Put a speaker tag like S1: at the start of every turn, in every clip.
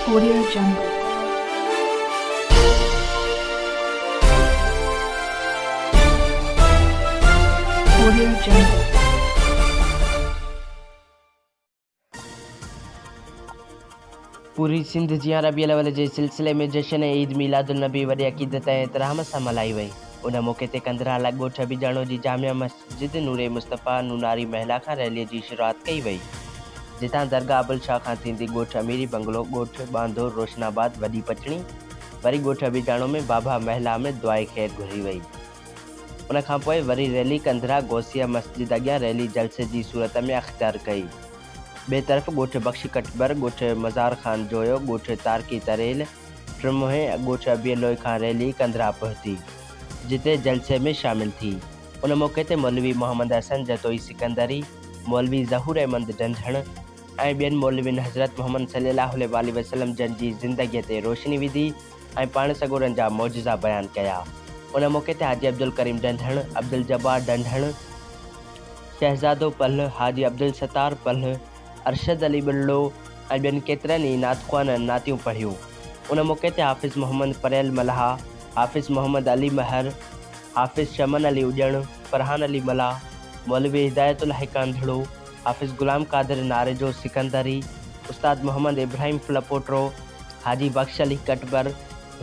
S1: Korea جنگ،
S2: Korea جنگ. پوري سنڌ جيان ربيع الاول جي سلسلي ۾ جشن عيد ميلاد النبي وڏي عقيدت ۽ احترام سان ملهائي وئي. ان موقعي تي ڪنڌرا لاڳ ڳوٺ ابيجاڻو جي جامع مسجد ضد نور مصطفيٰ نوناري محلا کان ريلي جي شروعات ڪئي وئي، جتان درگاهه ابل شاهه کان ٿيندي ڳوٺ اميري بنگلو، ڳوٺ ٻانڌو، روشن آباد، وڏي پچڻي، وري ڳوٺ ابيجاڻو ۾ بابا محلا ۾ دعائي خير گهري وئي. ان کانپوء وري ريلي ڪنڌرا غوثيه مسجد اڳيان ريلي جلسي جي صورت ۾ اختيار ڪئي. ٻئي طرف ڳوٺ بخش ڪٽبر، ڳوٺ مزار خان جويو، ڳوٺ تارڪي تريل، ٽرموهي ۽ ڳوٺ ابيلوئي کان ريلي ڪنڌرا پهتي، جتي جلسي ۾ شامل ٿي. ان موقعي تي مولوي محمد حسن جتوئي سڪندري، مولوي ظهور احمد ڊنڍڻ ۽ ٻين مولوين حضرت محمد صلي الله عليه واٰله وسلم جن جي زندگيء تي روشني وڌي ۽ پاڻ سڳورن جا معجزا بيان ڪيا. ان موقعي تي حاجي عبدالڪريم ڊنڍڻ، عبدالجبار ڊنڍڻ، شهزادو پلهه، حاجي عبدالستار پلهه، ارشد علي ٻرڙو ۽ ٻين ڪيترن ئي نعت خوانن نعتيون پڙهيون. ان موقعي تي حافظ محمد پريل ملاح، حافظ محمد علي مهر، حافظ چمن علي اڄڻ، فرحان علي ملاح، مولوي هدايت الله هڪاندڙو، حافظ غلام قادر ناريجو سڪندري، استاد محمد ابراهيم ڦلپوٽرو، حاجي بخش علي ڪٽبر،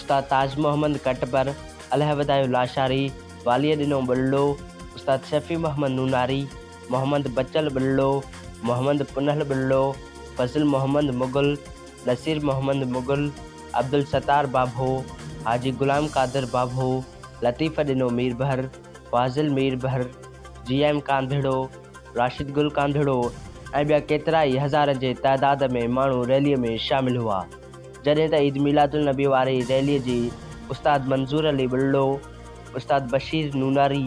S2: استاد تاج محمد ڪٽبر، الهوڌايو لاشاري، واليء ڏنو ٻلڙو، استاد شفيع محمد نوناري، محمد بچل ٻلڙو، محمد پنهل ٻلڙو، فضل محمد مغل، نصير محمد مغل، عبدالستار ڀاڀو، حاجي غلام قادر ڀاڀو، لطيف ڏنو ميربحر، فاضل ميربحر، جي ايم ڪانڌڙو، راشد گل ڪانڌڙو ۽ ٻيا ڪيترائي هزارن جي تعداد ۾ ماڻهو ريلي ۾ شامل هئا جڏهن ته عيد ميلادالنبي واري ريلي جي استاد منظور علي ٻلڙو، استاد بشير نوناري،